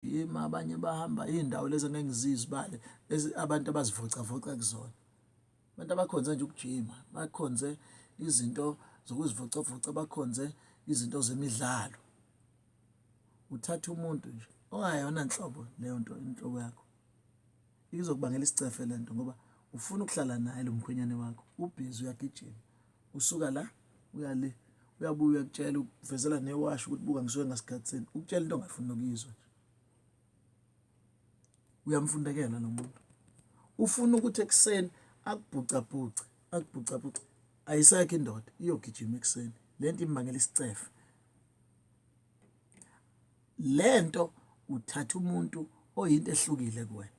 yimi abanye bahamba iy'ndawo lezi angeke ngizizibale abantu abazivocavoca kuzona abantu abakhonze nje ukujima bakhonze izinto zokuzivocavoca bakhonze izinto zemidlalo uthatha umuntu nje ongayona nhlobo leyo nto inhlobo yakho Izokubangela isicefe le nto ngoba ufuna ukuhlala naye lo mkhwenyane wakho ubhizi uyagijima usuka la uya le uyabuya uyakutshela ukuvezela newasho ukuthi buka ngisuke ngasikhathini ukutshela into ongafuni nokuyizwa nje uyamfundekela lo muntu ufuna ukuthi ekuseni akubhucabhuce akubhucabhuce ayisekho indoda iyogijima ekuseni le nto imbangela isicefe le nto uthatha umuntu oyinto ehlukile kuwena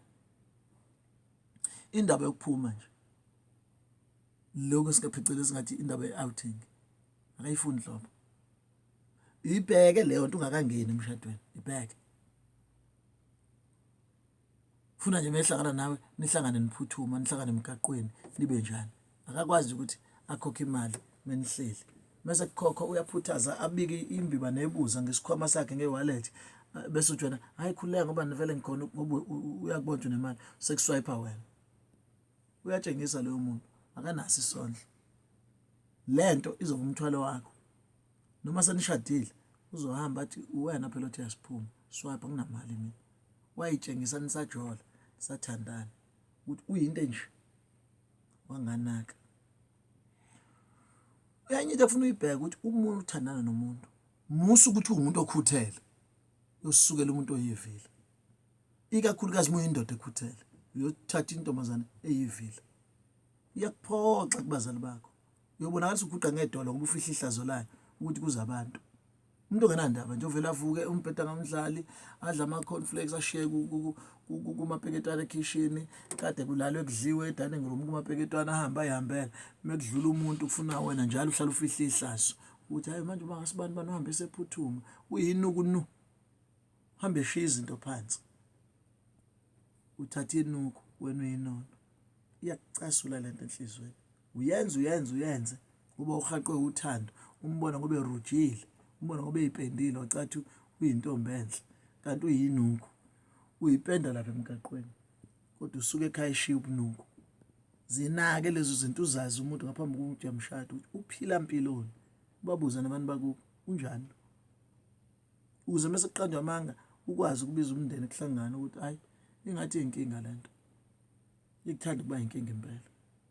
indaba yokuphuma nje lokho singaphecelezi ngathi indaba ye-outing akayifuni nhlobo ibheke leyo nto ungakangeni emshadweni ibheke funa nje mehlangana nawe nihlangane niphuthuma nihlangane emgaqweni nibe njani akakwazi ukuthi akhokhe imali menihleli mese kukhokho uyaphuthaza abike imbiba nebuza ngesikhwama sakhe ngewallet bese ujona hayi khuleka ngoba nivele ngikhona ngoba uyakubonja nemali sekuswipe wena uyatshengisa loyo muntu akanaso isondlo lento izoba umthwalo wakho noma senishadile uzohamba athi uwena phela othi yasiphuma swipe nginamali mina wayitshengisa nisajola sathandana ukuthi uyinto enje wanganaka enye into efuna uyibheke ukuthi umuntu uthandana nomuntu musa ukuthi uwumuntu okhuthele usukela umuntu oyivile ikakhulukazi uma uyindoda ekhuthele uyothatha intombazane eyivile iyakuphoxa kubazali bakho uyobona ngathi uguqa ngedolo ngoba ufihla ihlazo layo ukuthi kuze abantu umuntu ongenandaba nje ovele avuke umbheda ngamdlali adla ama-conflex ashiye kumapeketwana ekhishini kade kulalwe kudliwe edining room kumapeketwana ahambe ayihambele mekudlula umuntu kufuna wena njalo uhlala ufihle ihlazo ukuthi hayi manje uma ngasibani bani uhambe esephuthuma uyini ukunu hambe eshiya izinto phansi uthatha inuku wena uyinono iyakucasula lento enhlizweni uyenze uyenze uyenze kube urhaqwe uthando umbona ngobe rujile umbona ngobe ipendile wacathi uyintombi enhle kanti uyinuku uyipenda lapha emgaqweni kodwa usuke ekhaya eshiya ubunuku zinake lezo zinto uzazi umuntu ngaphambi kokuthi uyamshada ukuthi uphila mpiloni ubabuza nabantu bakubo unjani ukuze mase kuqanjwa amanga ukwazi ukubiza umndeni kuhlangana ukuthi hayi ingathi inkinga lento ikuthanda ukuba inkinga impela